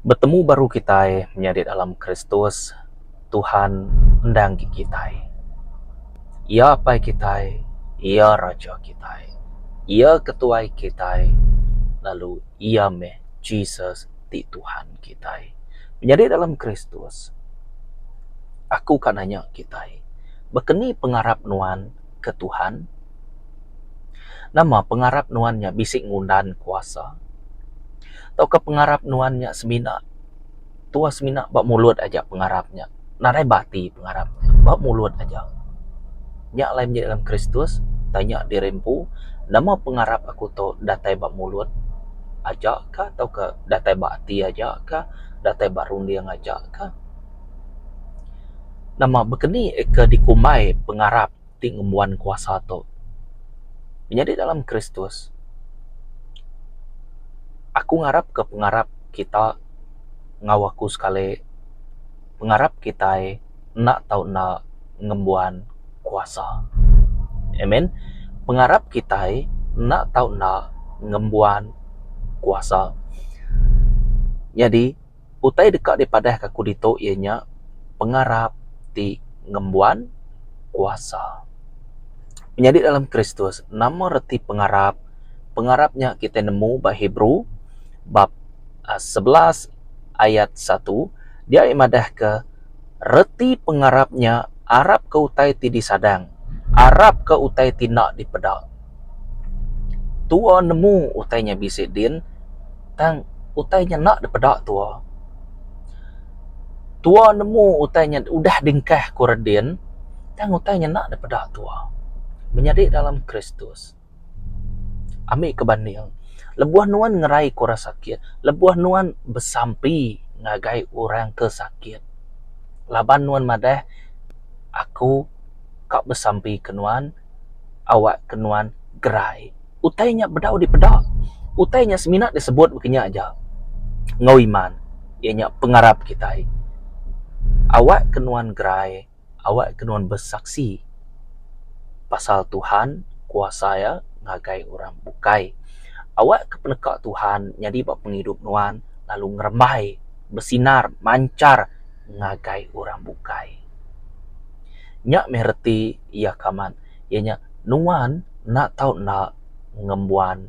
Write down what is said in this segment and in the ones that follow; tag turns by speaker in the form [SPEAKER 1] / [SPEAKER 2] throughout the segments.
[SPEAKER 1] Betemu baru kitai menyadi dalam Kristus, Tuhan enda enggi kitai. Iya Apai kitai, Iya Raja kitai, Iya Ketuai kitai, lalu Iya meh Jesus ti Tuhan kitai. Menyadi dalam Kristus, aku ka nanya kitai, baka ni pengarap nuan? ke Tuhan? Nama pengarap nuan nya bisi ngundan kuasa? Tauka pengarap nuan nya semina tuah semina ba mulut aja pengarap nya, nadai ba ati pengarap nya, ba mulut aja? Nya alai meri dalam Kristus, tanya diri empu, Nama pengarap aku tu datai ba mulut aja ka tauka datai ba ati aja ka, datai ba runding aja ka? Nama bekeni ke dikumbai pengarap ti ngembuan kuasa tu? Menyadi dalam Kristus, aku ngarap ke pengarap kita enggau aku sekali, pengarap kitai enda tau enda ngembuan kuasa. Amen. Pengarap kitai enda tau enda ngembuan kuasa. Nyadi. Utai deka dipadahka aku ditu iya nya pengarap ti ngembuan kuasa. Menyadi dalam Kristus nama reti pengarap? Pengarap nya kitai nemu ba Hebrew bab sebelas ayat satu dia meh madahka reti pengarap nya arapka utai ti disadang, arapka utai ti enda dipeda. Tua nemu utai nya bisi din tang utai nya enda dipeda tua. Tua nemu utai nya udah dingkah ku redin tang utai nya enda dipeda tua. Menyadi dalam Kristus ami ke banding lebuh nuan ngerai ku orang sakit lebuh nuan besampi ngagai orang ke sakit laban nuan madah aku ka besampi ke nuan. awakka nuan gerai. Utai nya bedau dipeda. Utai nya semina disebut mung kinya aja enggau iman iya nya pengarap kitai. Awakka nuan gerai, awakka nuan besaksi pasal Tuhan, kuasa iya ngagai orang bukai. Awakka peneka Tuhan nyadi ba pengidup nuan lalu ngerembai besinar manchar ngagai orang bukai. Nya meh reti. iya ke amat iya nya nuan enda tau enda ngembuan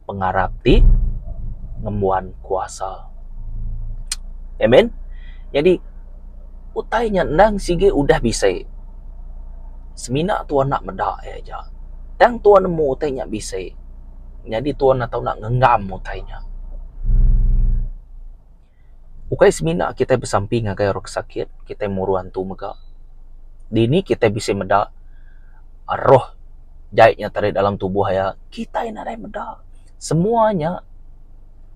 [SPEAKER 1] pengarap ti ngembuan kuasa. Amen jadi utai nya endang sigi udah bisi semina tuan enda meda iya aja tang tuan nemu utai nya bisi nyadi tuan enda tau ngenggam utai nya. Ukai semina kitai besampi ngagai orang ke sakit, kitai muru antu mega. Dini kitai bisi meda roh jai nyata ari dalam tubuh iya? Kitai nadai meda. Semua nya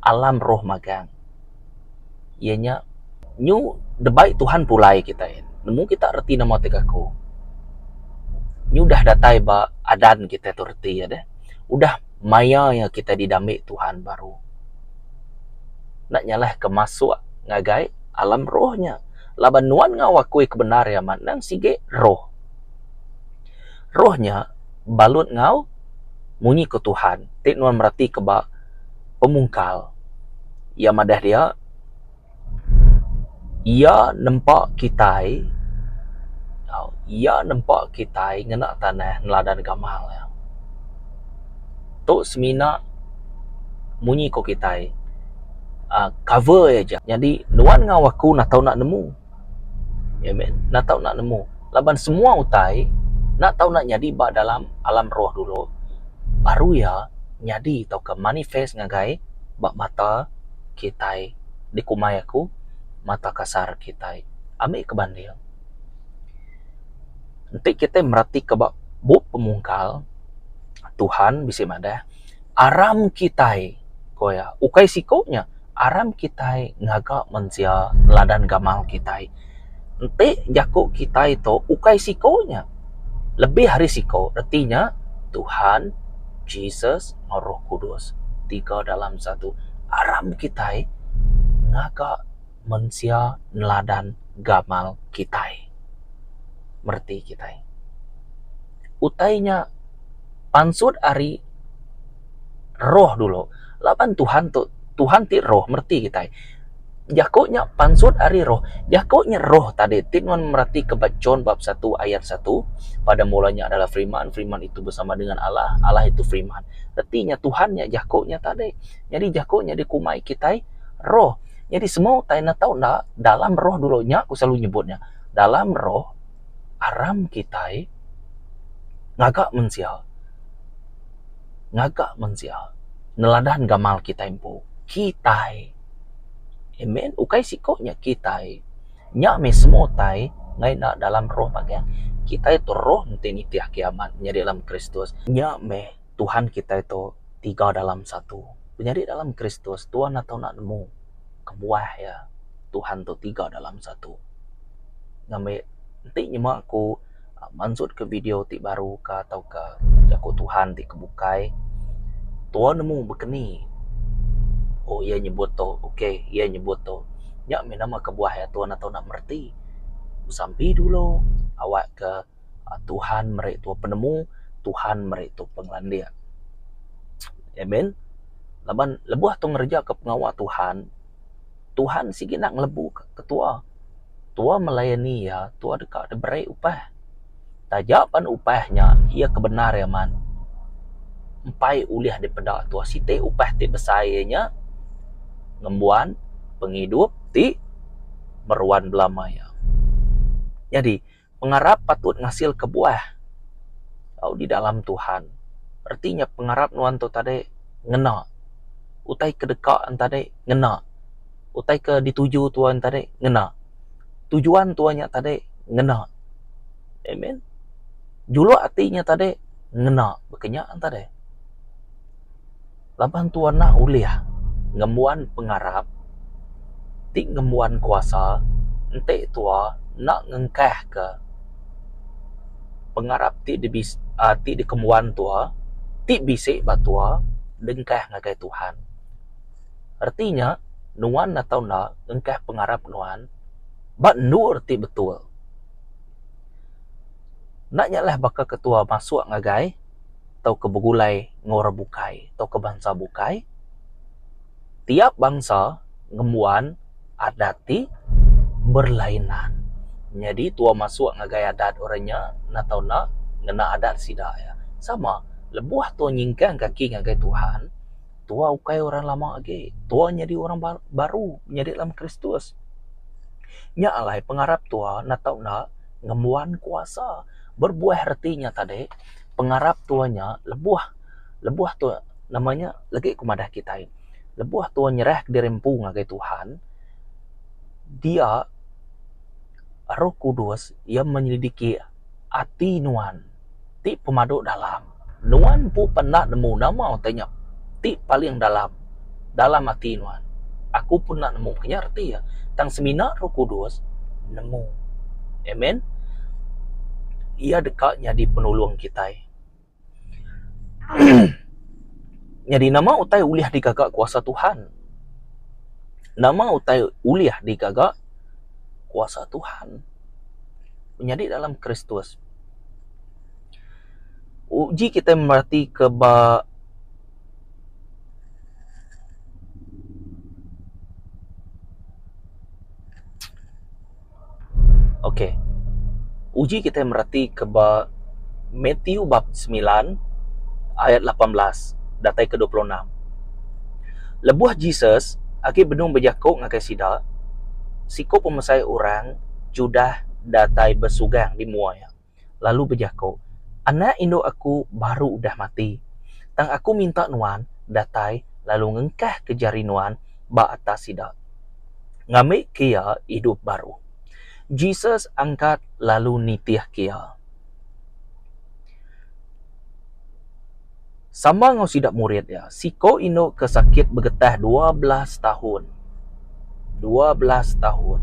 [SPEAKER 1] alam roh magang. Iya nya nyu debai Tuhan pulai kitai. Nemu kita reti nama ti gaku. Nyu udah datai ba adan kitai tu reti deh. Udah. maya iya kitai didambi Tuhan baru enda nyalahka masuk ngagai alam roh nya laban nuan enggau aku ke bendar iya amat endang sigi roh. Roh nya balut enggau munyi ku Tuhan ti nuan meratika ba pemungkal iya madah dia. Iya nempa kitai, tau, iya nempa kitai ngena tanah neladan gamal iya. Tu semina munyi ku kitai uhh cover iya aja. Nyadi nuan enggau aku enda tau enda nemu. Iya mih, enda tau enda nemu. Laban semua utai enda tau enda nyadi ba dalam alam roh dulu baru iya nyadi tauka manifest ngagai ba mata kitai. dikumbai aku mata kasar kitai ami ke banding enti kitai merati ka ba bup pemungkal Tuhan bisi madah aram kitai ko iya ukai siko nya aram kitai ngaga mensia neladan gamal kitai. enti jaku kitai tu ukai siko nya lebih ari siko reti nya Tuhan Jesus enggau roh kudus ti ke dalam satu aram kitai ngaga mensia neladan gamal kitai mereti kitai utai nya pansut ari roh dulu laban Tuhan tu Tuhan ti roh mereti kitai. Jaku nya pansut ari roh. Jaku nya roh tadi ti nuan meratika ba John bab satu ayat satu, Pada mula nya adalah Firman, Firman itu bersama dengan Allah, Allah itu Firman. Reti nya Tuhan nya Jaku nya tadi. Nyadi Jaku nya dikumbai kitai roh. Nyadi semua utai enda tau enda dalam roh dulu nya ku selalu nyebut nya. Dalam roh aram kitai ngaga mensia. ngaga mensia neladan gamal kitai empu. Kitai. Amen. Ukai siko nya kitai. Nya meh semua utai ngena enda dalam roh magang. Kitai tu roh enti nitih agi amat nyadi dalam Kristus. Nya meh Tuhan kitai tu tiga dalam satu. Penyadi dalam Kristus Tuhan enda tau enda nemu kebuah iya. Tuhan tu tiga dalam satu. Ngambi enti nyema ku. mansutka video ti baru ka tauka jaku Tuhan ti ke bukai, tuo nemu bekeni. Oh iya nyebut tu, okay iya nyebut tu. Nya mih nama kebuah iya tuan enda nak mereti. Besampi dulu awakka Tuhan meri tuo penemu, Tuhan meri tuo pengelandik. Amen. Laban lebuh tuo ngereja pengawa Tuhan, Tuhan sigi nak ngelebuka ketuo. Tua melayani iya, tua deka diberi upah. Taja pan upah nya iya ke bendar amat, empai ulih dipeda tua siti upah ti besai iya nya ngembuan pengidup ti meruan bela maya. Nyadi. Pengarap patut ngasilka buah tau di dalam Tuhan. Reti nya pengarap nuan tu tadi ngena utai ke deka nuan tadi ngena utai ke dituju tuan tadi ngena tujuan tuan nya tadi ngena. Amen. Juluk ati nya tadi ngena. Baka nya tadi. Laban tu enda ulih ngembuan pengarap ti ngembuan kuasa enti tua enda ngengkahka pengarap ti dibisi ti dikembuan tua ti bisi ba tua dengkah ngagai Tuhan. Reti nya nuan atau enda ngengkah pengarap nuan ba endur ti betul. Enda nyalah baka ketua masuk ngagai. tauka begulai enggau orang bukai tauka bansa bukai, tiap bansa ngembuan adat ti berlainan. Nyadi tua masuk ngagai adat orang nya enda tau enda ngena adat sida iya. Sama lebuh tua nyingkang kaki ngagai Tuhan, tua ukai orang lama agi. Tua nyadi orang baru nyadi dalam Kristus. Nya alai pengarap tua enda tau enda ngembuan kuasa. Berbuah reti nya tadi pengarap tua nya lebuh lebuh tua nama nya legi ku madah kitai lebuh tua nyerah diri empu ngagai Tuhan dia roh kudus iya menyelidiki ati nuan ti pemadu dalam. Nuan empu pernah nemu nama utai nya ti paling dalam dalam ati nuan? Aku pun enda nemu ke nya reti iya, tang semina Roh Kudus nemu. Amen. Iya deka nyadi penulung kitai. Nyadi nama utai ulih digaga kuasa Tuhan? Nama utai ulih digaga kuasa Tuhan? Menyadi dalam Kristus. uji kitai meratika ba ok uji kitai meratika ba Mathew bab semilan ayat lapan belas datai ke dua puluh enam. Lebuh Jesus agi benung bejaku ngagai sida, siku pemesai orang Judah datai besugang di mua iya. lalu bejaku, Anak indu aku baru udah mati, tang aku minta nuan datai lalu ngengkahka jari nuan ba atas sida, ngambika iya idup baru. Jesus angkat lalu nitihka iya. Sama enggau sida murid iya, siku indu ke sakit begetah dua belas tahun. Dua belas tahun.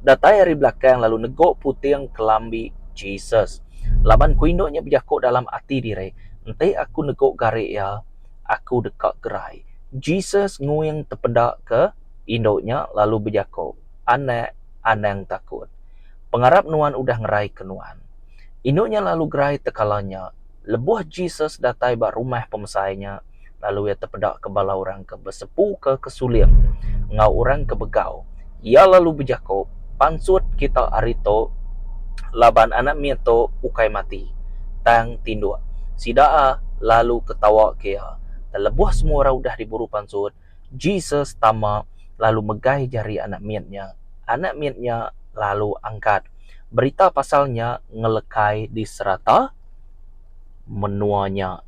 [SPEAKER 1] Datai ari belakang lalu neguk puting kelambi Jesus. Laban ku indu nya bejaku dalam ati diri, Enti aku neguk gari iya, aku deka gerai. Jesus nguing tepeda ke indu nya lalu bejaku, Anak, anang takut. Pengarap nuan udah ngerai ke nuan. Indu nya lalu gerai tekala nya, Lebuh Jesus datai ba rumah pemesai nya, lalu iya tepedaka bala orang ke besepuka ke suling enggau orang ke begau, iya lalu bejaku, Pansut kita ari tu, laban anak mit tu ukai mati, tang tinduk. Sida lalu ketawaka iya. Lebuh semua orang udah diburu pansut, Jesus tama lalu megai jari anak mit nya. Anak mit nya lalu angkat berita pasal nya ngelekai di serata menua nya.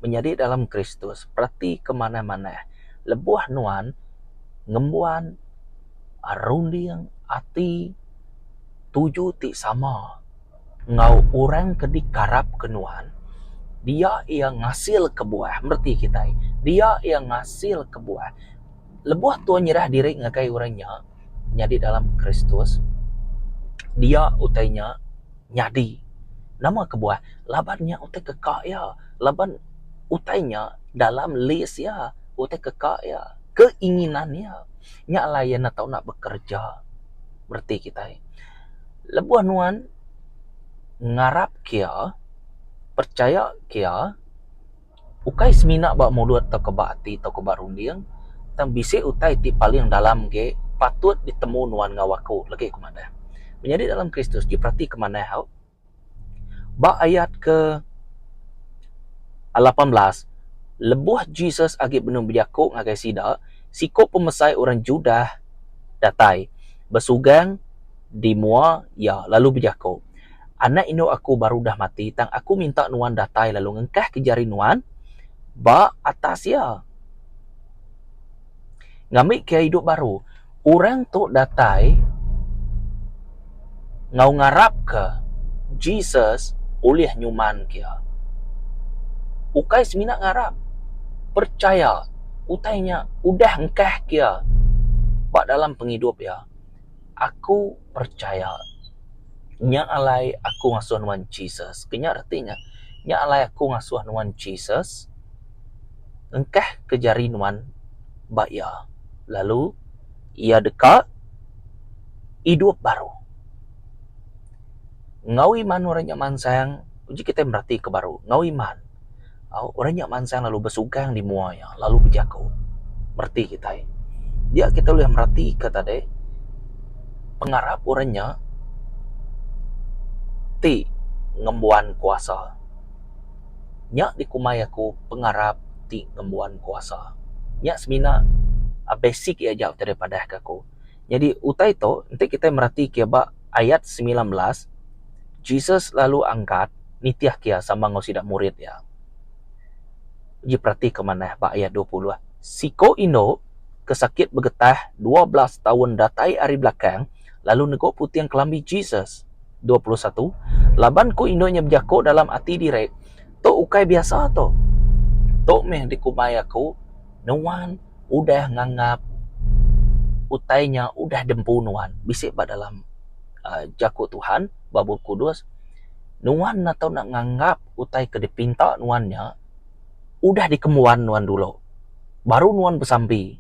[SPEAKER 1] Menyadi dalam Kristus, peratika manah-manah, lebuh nuan ngembuan runding ati tuju ti sama. enggau orang ke dikarapka Nuan, dia iya ngasilka buah. Reti kitai, dia iya ngasilka buah. Lebuh tau nyerah diri ngagai orang nya nyadi dalam Kristus, dia utai nya nyadi. Nama kebuah? Laban nya utai keka iya. Laban utai nya dalam lis iya, utai keka iya, keinginan iya. Nya alai iya enda tau bekereja. Reti kitai. Lebuh nuan ngarap kia, percaya kia, ukai semina ba mulut tauka ba ati tauka ba runding, tang bisi utai ti paling dalam ge patut ditemu nuan enggau aku legi ku madah. Menyadi dalam Kristus ti peratika manah au. Ba ayat ke lapan belas, lebuh Jesus agi benung bejaku ngagai sida, siku pemesai orang Judah datai, besugang di mua iya, lalu bejaku, Anak indu aku baru udah mati, tang aku minta nuan datai lalu ngengkahka jari nuan ba atas iya. ngambika idup baru. Orang tu datai enggau ngarapka Jesus ulih nyumanka iya. Ukai semina ngarap, percaya utai nya udah engkahka iya ba dalam pengidup iya. Aku percaya. Nya alai aku ngasuh nuan Jesus. Kena reti ne. Nya alai aku ngasuh nuan Jesus. Engkah ke jari nuan? ba iya. Lalu iya deka idup baru. Enggau iman orang nya mansang, uji kitai meratika baru. Enggau iman, orang nya mansang lalu besugang di mua iya, lalu bejaku. Reti kitai. Dia kitai ulih meratika tadi, pengarap orang nya ti ngembuan kuasa. Nya dikumbai aku pengarap ti ngembuan kuasa. Nya semina basic iya aja ditadah padah ke aku. Nyadi utai tu enti kitai merati ke ba ayat semilan belas Jesus lalu angkat nitihka iya sama enggau sida murid iya. Enti peratika manah ba ayat dua puluh siko indu ke sakit begetah dua belas taun datai ari belakang. lalu negok puting kelambi Jesus. Dua puluh satu, laban ku indu nya bejako dalam ati diri, Tu ukai biasa tu. Tu meh dikumbai aku, Nuan udah nganggap utai nya udah dempu nuan. Bisi ba dalam jako Tuhan ba Bup Kudus, Nuan enda tau nak nganggap utai ke dipinta nuan nya udah dikembuan nuan dulu, baru nuan besampi.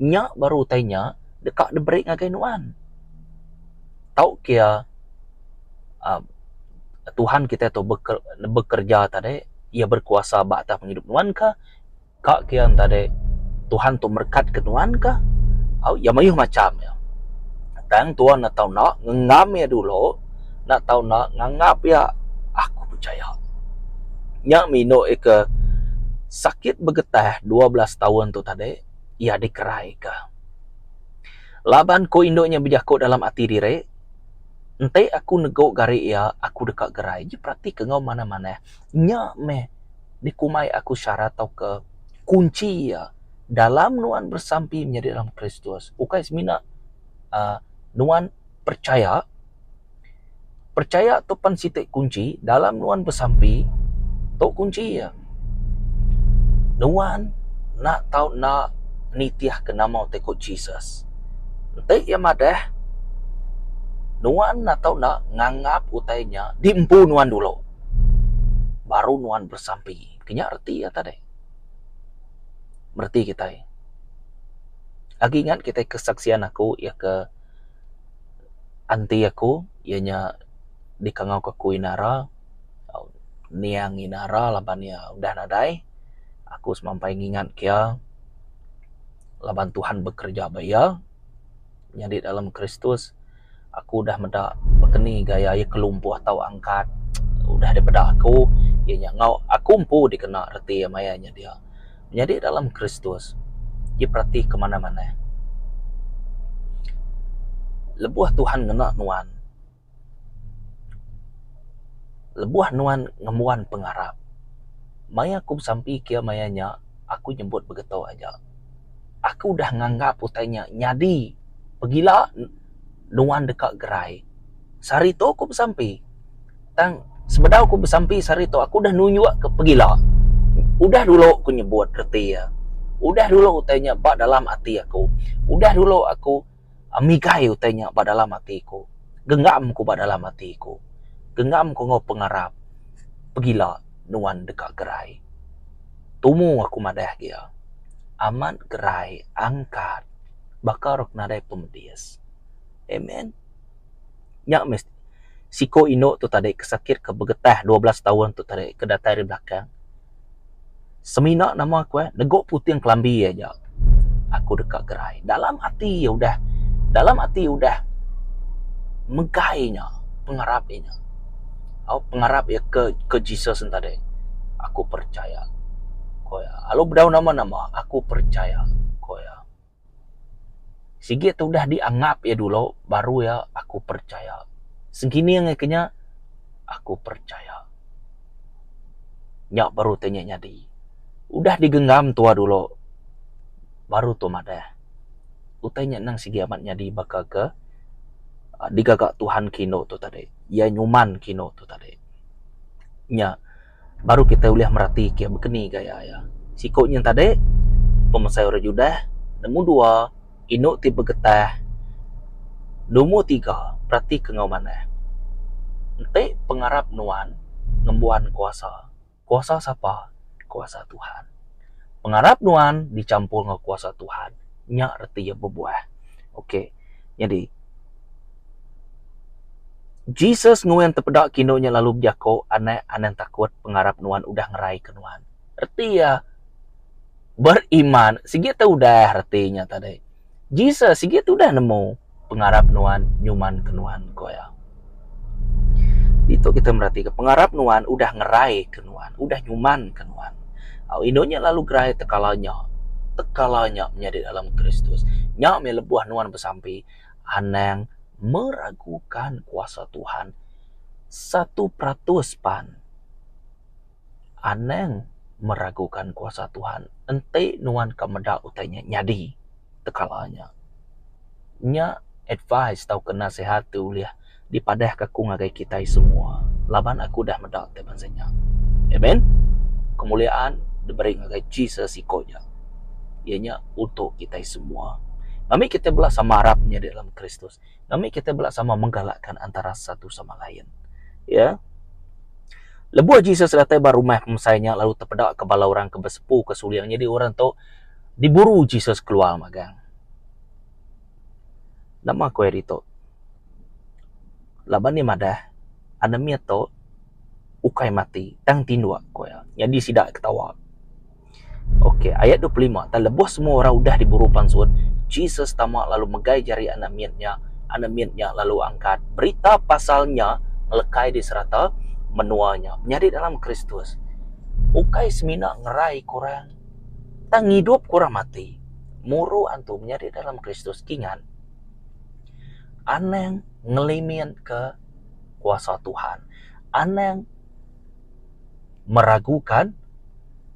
[SPEAKER 1] Nya baru utai nya. deka diberi ngagai nuan. Tau ke iya uhh Tuhan kitai tu bekereja tadi, iya berkuasa ba atas pengidup nuan ka, ka ke iya tadi Tuhan tu merekatke nuan ka, au iya mayuh macham iya. Tang tuan enda tau enda ngenggam iya dulu, enda tau enda nganggap iya, aku pechaya nya meh indu ika sakit begetah dua belas taun tu tadi iya dikeraika. Laban ku indu nya bejaku dalam ati diri, Enti aku negu gari iya, aku deka gerai. Nya peratika enggau manah-manah. Nya meh dikumbai aku syarat tauka kunchi iya dalam nuan besampi nyadi dalam Kristus. Ukai semina uhh nuan perchaya. Percaya tu pan siti kunchi dalam nuan besampi tu kunchi iya. Nuan enda tau enda nitihka nama ti ku Jesus. Enti iya madah nuan enda tau enda nganggap utai nya di empu nuan dulu baru nuan besampi. Kinya reti iya tadi. Reti kitai. Agi ingat kitai kesaksian aku iya ke anti aku iya nya dikangau ka aku inara niang inara laban iya udah nadai aku semampai ngingat ka iya laban Tuhan bekerja ba iya nyadi dalam Kristus aku udah meda keni gaya iya kelumpuh tau angkat udah daripada aku iya nya enggau aku empu dikena reti maya nya dia. Nyadi dalam Kristus diperati ke manah-manah. Lebuh Tuhan ngena nuan, lebuh nuan ngembuan pengarap, maya aku besampi kiya maya nya, aku nyebut begeto aja. Aku udah nganggap utai nya nyadi pegila nuan deka gerai. sehari tu aku besampi tang sebedau aku besampi sehari tu aku udah nunjuk ke pegila udah dulu aku nyebut reti iya udah dulu utai nya ba dalam ati aku udah dulu aku migai utai nya ba dalam ati ku genggam ku ba dalam ati ku genggam ku enggau pengarap pegila nuan deka gerai tumu aku madah agi iya amat gerai angkat baka rak nadai pemedis amen. Nya mesti siko indu tu tadi ke sakit ke begetah dua belas taun tu tadi ke datai ari belakang semina nama ku eh lego puting kelambi iya aja aku deka gerai dalam ati iya udah dalam ati iya udah megai nya pengarap iya nya au pengarap iya ke ke Jesus nya tadi aku percaya ko iya lalu bedau nama nama aku percaya ko iya. Sigi ti udah dianggap iya dulu baru iya aku percaya. Sekini angai ke nya aku percaya. Nya baru ti nya nyadi. Udah digenggam tuuh dulu baru tu madah. Utai nya endang sigi amat nyadi baka ke digaga Tuhan ke indu tu tadi. Iya nyuman ke indu tu tadi. Nya. Baru kitai ulih merati ke bekeni gaya iya. Siku nyin tadi, pemesai orang Judah, nemu dua, indu ti begetah, numur tiga, peratika enggau manah. Enti pengarap nuan ngembuan kuasa, kuasa sapa? Kuasa Tuhan. Pengarap nuan dichampur enggau kuasa Tuhan, nya reti iya bebuah. Ok. Nyadi, Jesus nuan tepeda ke indu nya lalu bejako, Anak, anang takut pengarap nuan udah ngeraika nuan. Reti iya beriman sigi te udah reti nya tadi. Jesus sigi te udah nemu pengarap nuan nyumanka nuan, ku iya. Ditu kita meratika pengarap nuan udah ngeraika nuan, udah nyumanka nuan. Au inu nya lalu gerai tekala nya? Tekala nya menyadi dalam Kristus. Nya meh lebuh nuan besampi, anang meragukan kuasa Tuhan satu peratus pan. Anang meragukan kuasa Tuhan. Enti nuan ka meda utai nya nyadi tekala nya, nya advise tauka nasihat ti ulih dipadahka aku ngagai kitai semua laban aku udah meda ti bansa nya. Amen. Kemuliaan diberi ngagai Jesus iko aja. Iya nya utuh kitai semua. Ami kitai bela sama arap nyadi dalam Kristus. ngambi kita bela sama menggalakka antara satu sama lain. Ya. Lebuh Jesus datai ba rumah pemesai nya lalu tepeda ke bala orang ke besepu ke suling nyadi orang tu diburu Jesus keluar magang. Nama ku iya ditu? Laban iya madah anemit tu ukai mati tang tinduk, ku iya. Nyadi sida ketawa. Ok, ayat dua puluh lima, Tang lebuh semua orang udah diburu pansut, Jesus tama lalu megai jari anak mit nya, anak mit nya lalu angkat. Berita pasal nya ngelekai di serata menua nya. Menyadi dalam Kristus ukai semina ngerai ke orang, tang ngidupka orang mati. Muru antu menyadi dalam Kristus kingan anang ngeliminka kuasa Tuhan. Anang. meragukan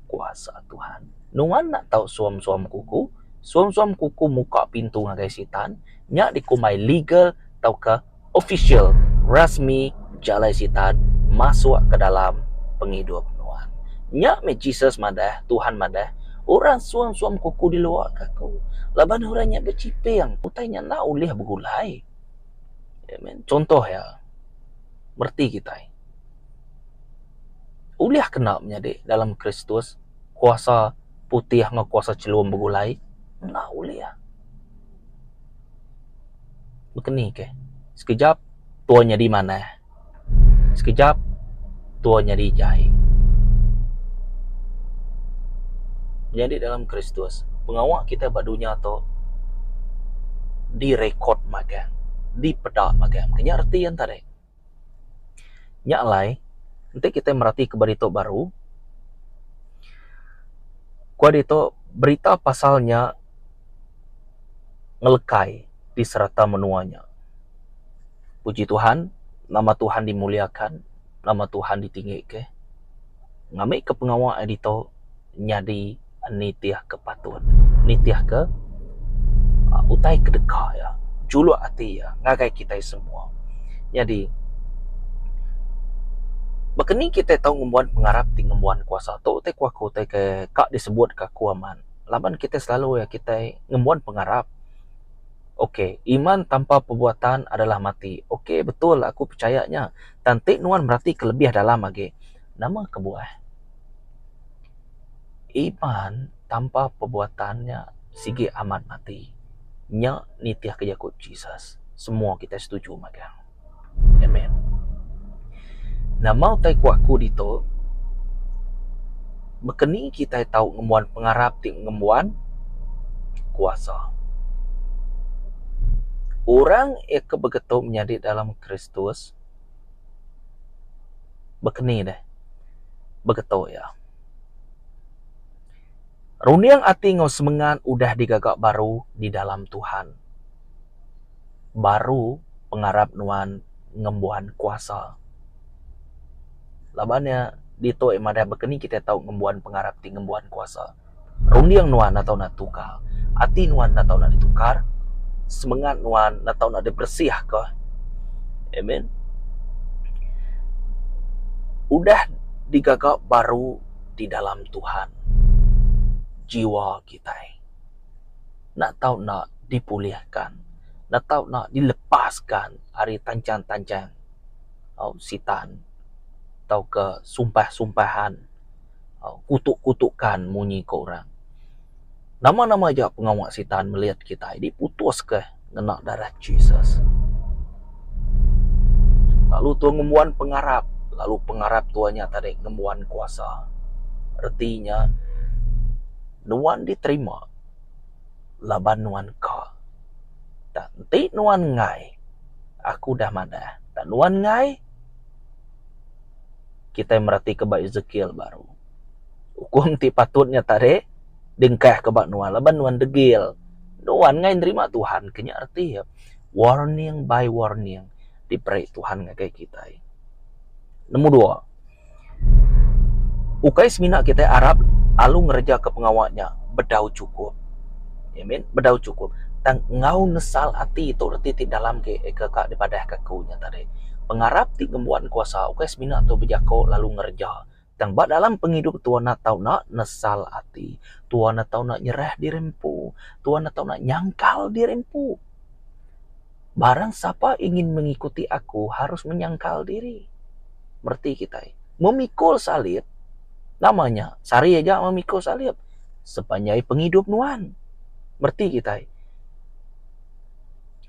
[SPEAKER 1] kuasa Tuhan. Nuan enda tau suam-suam kuku, suam-suam kuku muka pintu ngagai sitan, nya dikumbai legal tauka official, rasmi jalai sitan masuk ke dalam pengidup nuan. Nya meh Jesus madah, Tuhan madah, orang suam-suam kuku di luar ke aku, laban orang nya bechiping utai nya enda ulih begulai. Amen. Chunto iya. mereti kitai. Ulih kena menyadi dalam Kristus, kuasa putih enggau kuasa chelum begulai? Enda ulih. Bekenike, sekejap tua nyadi manah, sekejap tua nyadi jai. Menyadi dalam Kristus, pengawa kitai ba dunya tu direkod magang. dipeda ngagai ami. Nya reti yen tadi. Nya alai enti kitai meratika ba ditu baru ku ditu berita pasal nya ngelekai di serata menua nya. Puji Tuhan nama Tuhan dimuliakan nama Tuhan ditinggi ke ngambika pengawa ditu nyadi. nitihka patut, nitihka utai ke deka iya, juluk ati iya ngagai kitai semua. Nyadi, baka ni kitai tau ngembuan pengarap ti ngembuan kuasa tu ti ku aku ti ke ka disebutka aku amat. Laban kitai selalu iya kitai ngembuan pengarap. Ok, iman tanpa perbuatan adalah mati. Ok, betul aku pechaya nya. Tang ti nuan meratika lebih dalam agi, nama kebuah? Iban tanpa perbuatan nya sigi amat mati. Nya nitihka jaku Jesus. Semua kitai setuju mega. Amen. Nama utai ku aku ditu? Baka ni kitai tau ngembuan pengarap ti ngembuan kuasa? Orang ke begetu menyadi dalam Kristus. Baka ni deh begetu iya. Runding ati enggau semengat udah digaga baru di dalam Tuhan. Baru pengarap nuan ngembuan kuasa. Laban iya ditu iya madah baka ni kitai tau ngembuan pengarap ti ngembuan kuasa. Runding nuan enda tau nak ditukar, ati nuan enda tau nak ditukar, semengat nuan enda tau nak diberesihka. Amen. Udah digaga baru di dalam Tuhan jiwa kitai enda tau nak dipulihkan, enda tau nak dilepaskan ari tancang-tancang sitan tauka sumpah-sumpahan. kutuk-kutukan munyi ke orang. Nama-nama aja pengawa Sitan melit kitai diputuska ngena darah Jesus. Lalu Tuhan ngembuan pengarap, lalu pengarap Tuhan nya tadi ngembuan kuasa. Reti nya nuan diterima laban nuan ka. Tang enti nuan enggai, aku udah madah, tang nuan enggai, kitai meratika ba Ezekiel baru. Ukum ti patut nya tarik dingkah ke ba nuan laban nuan degil. Nuan ngai nerima Tuhan ke nya reti iya. Warning by warning diberi Tuhan ngagai kitai. Nombor dua, ukai semina kitai arap lalu ngereja pengawa nya bedau chukup. Ye min bedau cukup tang enggau nesal ati tu reti ti dalam ke ka dipadahka aku nya tadi pengarap ti ngembuan kuasa ukai semina tu bejako lalu ngereja tang ba dalam pengidup tua enda tau enda nesal ati tua enda tau enda nyerah diri empu tua enda tau enda nyangkal diri empu. Barang sapa ingin mengikuti Aku harus menyangkal diri. Mereti kitai. Memikul salib, nama nya? Sehari aja memikul salib. Sepanjai pengidup nuan. Mereti kitai.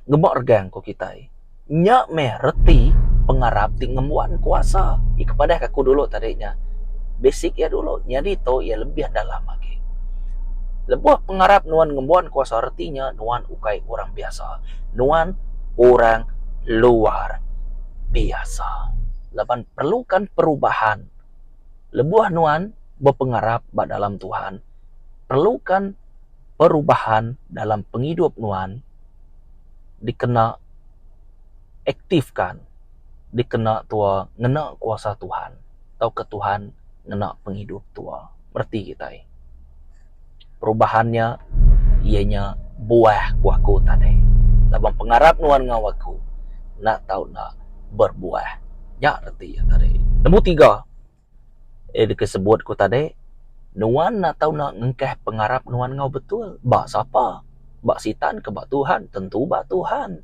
[SPEAKER 1] Ngemuk regang ku kitai. Nya meh reti pengarap ti ngembuan kuasa. Ih kepadah aku dulu tadi nya. Basic iya dulu. Nyadi tu iya lebih dalam agi. Lebuh pengarap nuan ngembuan kuasa reti nya nuan ukai orang biasa. Nuan orang luar biasa laban perlukan perubahan. Lebuh nuan bepengarap ba dalam Tuhan, perlukan perubahan dalam pengidup nuan dikena aktifkan, dikena tua ngena kuasa Tuhan tauka Tuhan ngena pengidup tua. Bereti kitai. perubahan nya iya nya buah ku aku tadi laban aku pengarap nuan enggau aku enda tau enda berbuah nya reti iya tadi. Nombor tiga ida ke sebut ku tadi nuan enda tau ngengkeh pengarap nuan enggau betul ba sapa ba sitan ka ba Tuhan tentu ba Tuhan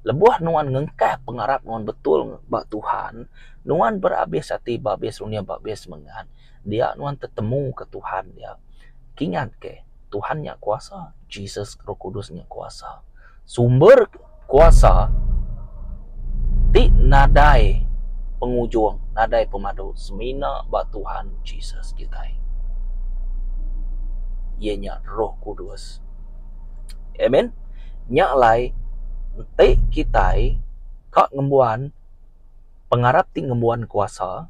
[SPEAKER 1] lebuh nuan ngengkeh pengarap nuan betul ba Tuhan nuan berabis ati berabis runih berabis semangat. Dia nuan tetemu ke Tuhan nya, kingat ke Tuhan nya kuasa, Jesus roh kudus nya kuasa. Sumber kuasa ti nadai pengujung, nadai pemadu semina ba Tuhan Jesus kitai. Iya nya roh kudus. Amen. Nya alai enti kitai ka ngembuan. Pengarap ti ngembuan kuasa.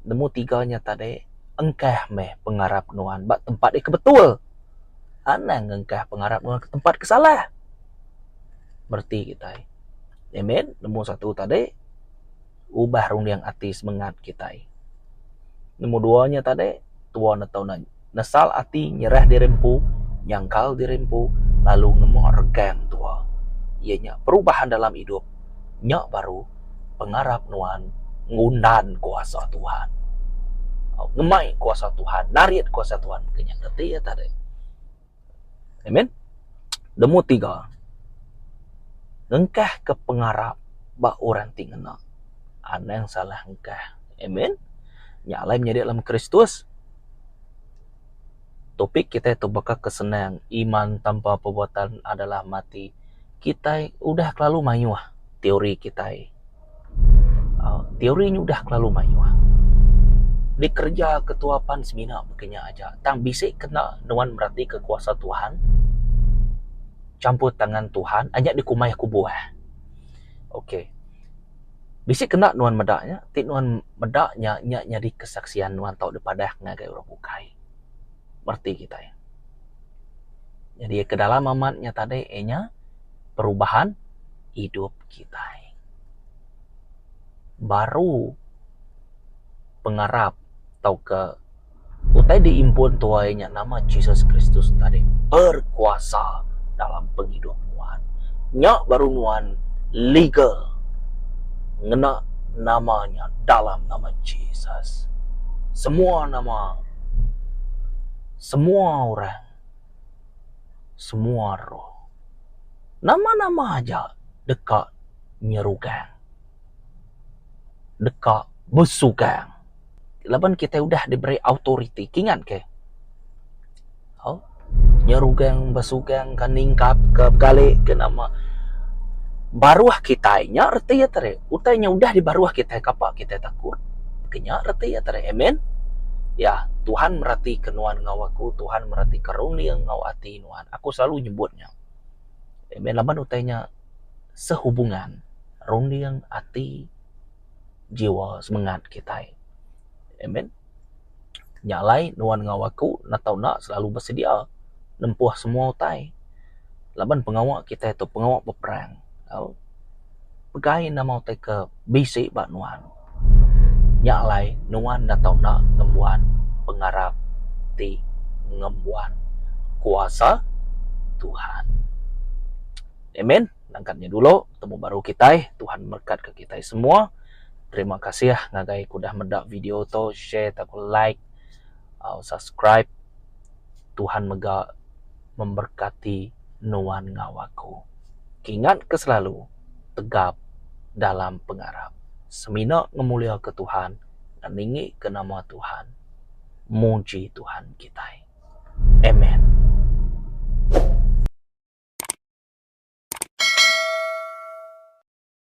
[SPEAKER 1] Nemu tiga nya tadi engkah meh pengarap nuan ba tempat yak betul. Anang engkah pengarap nuan ke tempat ke salah. Bereti kitai. Amen. Nemu satu tadi ubah runding ati semengat kitai. Nemu dua nya tadi tua ne tau ne. Nesal ati nyerah diri empu, nyangkal diri empu, lalu ngemu regang tua. Iya nya perubahan dalam idup. Nya baru pengarap nuan ngundan kuasa Tuhan. Ngemai kuasa Tuhan, narit kuasa Tuhan ke nya reti iya tadi. Amen. Nemu tiga, ngengkah ke pengarap ba orang ti ngena anang salah engkah. Amen. Nya alai menyadi dalam Kristus. Topik kitai tu baka ke senang, iman tanpa perbuatan adalah mati. Kitai udah kelalu mayuh. teori kitai uhh teori nyudah kelalu mayuh dikereja ketua pan semina ke nya aja tang bisi kena nuan meratika kuasa Tuhan champur tangan Tuhan aja dikumbai aku buah okay bisi kena nuan meda nya ti nuan meda nya nya nyadi kesaksian nuan tau dipadah ngagai orang bukai ba reti kitai nyadi ke dalam amat nya tadi inya perubahan. idup kitai. Baru pengarap tauka utai diimpun tuai nya nama Jesus Kristus tadi berkuasa dalam pengidup nuan. Nya baru nuan legal ngena nama nya dalam nama Jesus. Semua nama semua orang. semua roh. Nama-nama aja deka nyerugang. Deka besugang. Laban kitai udah diberi autoriti. Kingat ke? Au. Nyerugang, besugang ka ningkap ka, begali ka nama baruh kitai nya reti iya tadi. Utai nya udah dibaruh kitai kapa kitai takut. Ke nya reti iya tadi. Amen. Ya, Tuhan meratika nuan enggau aku, Tuhan meratika runding enggau ati nuan. Aku selalu nyebut nya. Amen. Laban utai nya sehubungan runding, ati, jiwa, semengat kitai. Amen. Nya alai nuan enggau aku netau enda selalu besedia nempuh semua utai laban pengawa kitai tu pengawa beperang. Pegai enda mauh utai ke bisi ba nuan. Nya alai nuan enda tau enda ngembuan pengarap ti ngembuan kuasa Tuhan. Amen. Langkat nya dulu temu baru kitai. Tuhan berekatka kitai semua. Terima kasih ngagai ku dah meda video to share taku like au subscribe Tuhan mega memberkati nuan enggau aku. Kingat ke selalu tegap dalam pengarap semina ngemulia ke Tuhan ngeningi ke nama Tuhan muji Tuhan kitai. Amen.